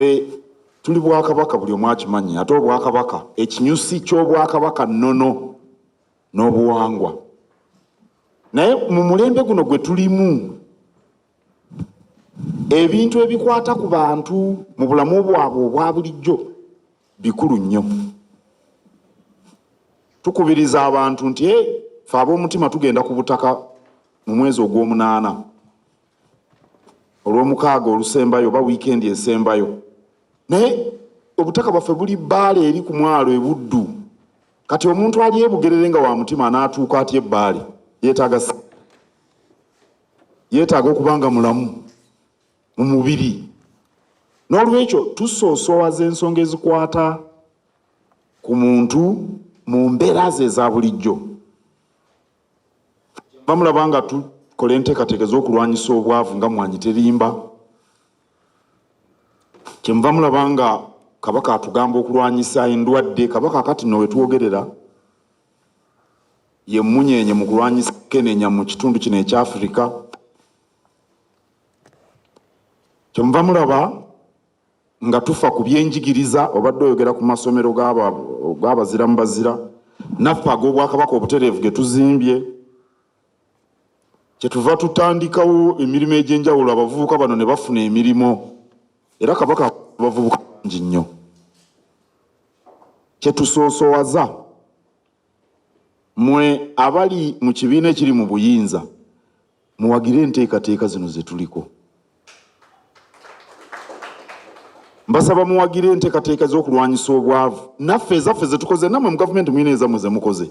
eh, tuli bwakabaka buli omu akimanyi ate obwakabaka ekinyusi ky'obwakabaka nnono n'obuwangwa naye mu mulembe guno gwe tulimu ebintu ebikwata ku bantu mu bulamu bwabwe obwa bulijjo bikulu nnyo tukubiriza abantu nti e fe ab'omutima tugenda ku butaka mu mwezi ogw'omunaana olwomukaaga olusembayo oba wiikendi esembayo naye obutaka bwaffe buli bbaale eri ku mwalo ebuddu kati omuntu ali ebugerere nga wa mutima anaatuuka atya ebbaale yeetaaga yeetaaga okuba nga mulamu mu mubiri n'olwekyo tusoosowaza ensonga ezikwata ku muntu mu mbeera ze eza bulijjo Kyenva mulaba nga tukola enteekateeka ez'okulwanyisa obwavu nga Mmwanyi Terimba. Kyenva mulaba nga Kabaka atugamba okulwanyisa endwadde. Kabaka kati no wetwogerera ye mmunyeenye mu kulwanyisa kenenya mu kitundu kino ekya Afirika. Kyenva mulaba Nga tufa ku by'enjigiriza, obadde oyogera ku masomero g'abazira mu bazira, naffe ag'Obwakabaka obutereevu ge tuzimbye. Kye tuva tutandikawo emirimu egy'enjawulo abavubuka bano ne bafuna emirimu era Kabaka abavubuka bangi nnyo. Kye tusoosowaza. Mwe abali mu kibiina ekiri mu buyinza muwagire enteekateeka zino zetuliko. Mbasaba muwagire enteekateeka z'okulwanyisa obwavu. Naffe ezaffe zetukoze, namwe mu gavumenti mulina ezammwe zemukoze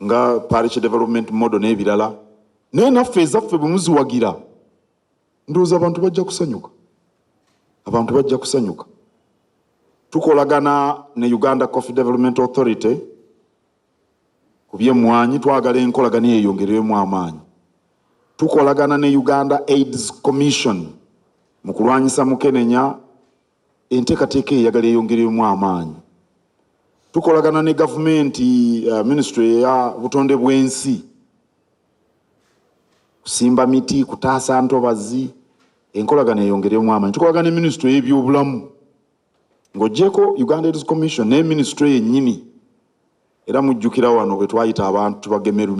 nga Parish Development Model n'ebirala, naye naffe ezaffe bwe muziwagira ndowooza abantu bajja kusanyuka abantu bajja kusanyuka tukolagana ne uganda coffee development authority ku byemmwanyi twagala enkolagana yeyongereremu amaanyi tukolagana ne uganda aids commission mu kulwanyisa mukenenya Enteekateeka eyo eyagala eyongerwemu amaanyi. Tukolagana ne gavumenti, uh, minisitule eya butonde bw'ensi, kusimba miti, kutaasa ntobazi, enkolagana eyongerwemu amaanyi. Tukolagana ne minisitule y'ebyobulamu ng'ogyeko Uganda AIDS Commission ne minisitule yennyini era mujjukira wano bwe twayita abantu tubagemerumi